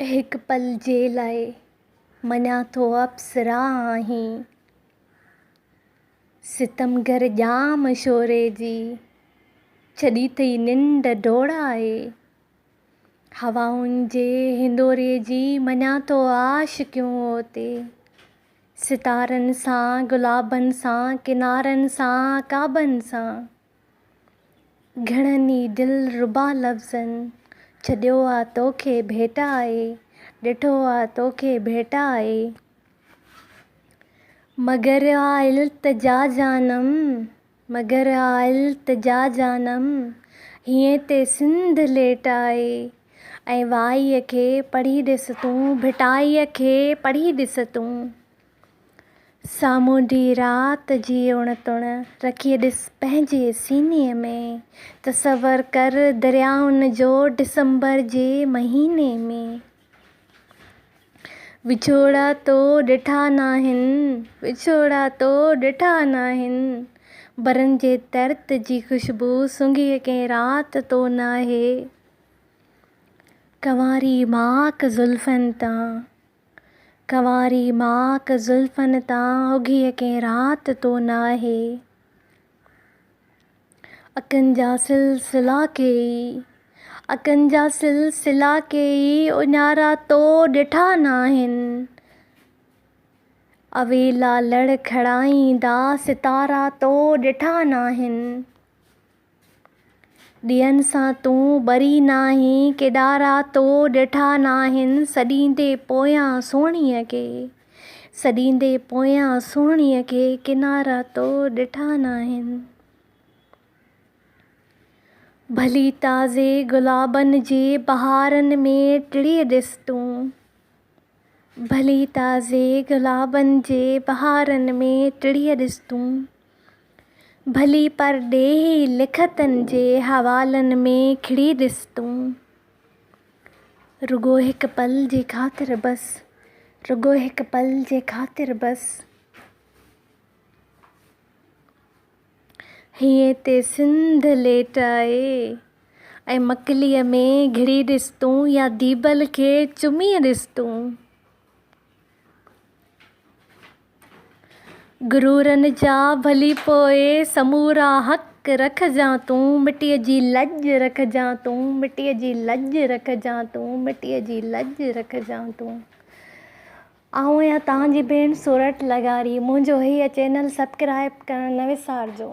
هڪ پل جي لاء مڃان ٿو اپسرا آهين، ستمگر ڄام شوري جي ڇڏي اٿئي ننڊ ڊوڙائي، هوائن جي هندوري جي مڃان ٿو عاشقيون اوتي، ستارن سان گلابن سان ڪنارن سان عقابن سان. گهڻن ئي دلربا لفظن، ڇڏيو آ توکي ڀيٽ آء، ڏٺو آ توکي ڀيٽ آء. مگر آ التجا جانم، مگر آ التجا جانم، هيئن تي سنڌ ليٽ آء. ۽ وائيء کي پڙهي ڏس تون، ڀٽائيء کي پڙهي ڏس تون. سامونڊي رات جي اڻ تڻ رکي ڏس پنهنجي سيني ۾، تصور ڪر دريائن جو ڊسمبر جي مهيني ۾، وڇوڙا تو ڏٺا ناهن، وڇوڙا تو ڏٺا ناهن، برن جي ترت جي خوشبو سونگهي ڪنهن رات تو ناهي، ڪنواري ماڪ زلفن تان. ڪنواري ماڪ زلفن تان اگهيء ڪنهن رات تو ناهي. اکين جا سلسلا ڪيئي، اکين جا سلسلا ڪيئي، اڃارا تو ڏٺا ناهن. اويلا لڙکڙائيندا ستارا تو ڏٺا ناهن. ڏيئن سان تون ٻري ناهين، ڪيڏارا تو ڏٺا ناهن، سڏيندي پويان سهڻيء کي، سڏيندي پويان سهڻيء کي، ڪيڏارا تو ڏٺا ناهن. ڀلي تازي گلابن جي بهارن ۾ ٽڙي ڏس تون، ڀلي تازي گلابن جي بهارن ۾ ٽڙي ڏس تون. ڀلي پرڏيهي لکتن جي حوالن ۾ کڙي ڏس تون. رڳو هڪ پل جي خاطر بس. رڳو هڪ پل جي خاطر بس. هينئن تي سنڌ ليٽ آهي ۽ مڪليء ۾ گهڙي ڏس تون يا ديبل کي چمي ڏس تون. غرورن جا ڀلي پوء سمورا حق رکجان تون مٽيء جي لڄ رکجان تون مٽيء جي لڄ رکجان تون مٽيء جي لڄ رکجان تون آئون آهيان توهان جي ڀيڻ سورٺ لغاري منهنجو هيء چينل سبڪرائب ڪرڻ نه وسارجو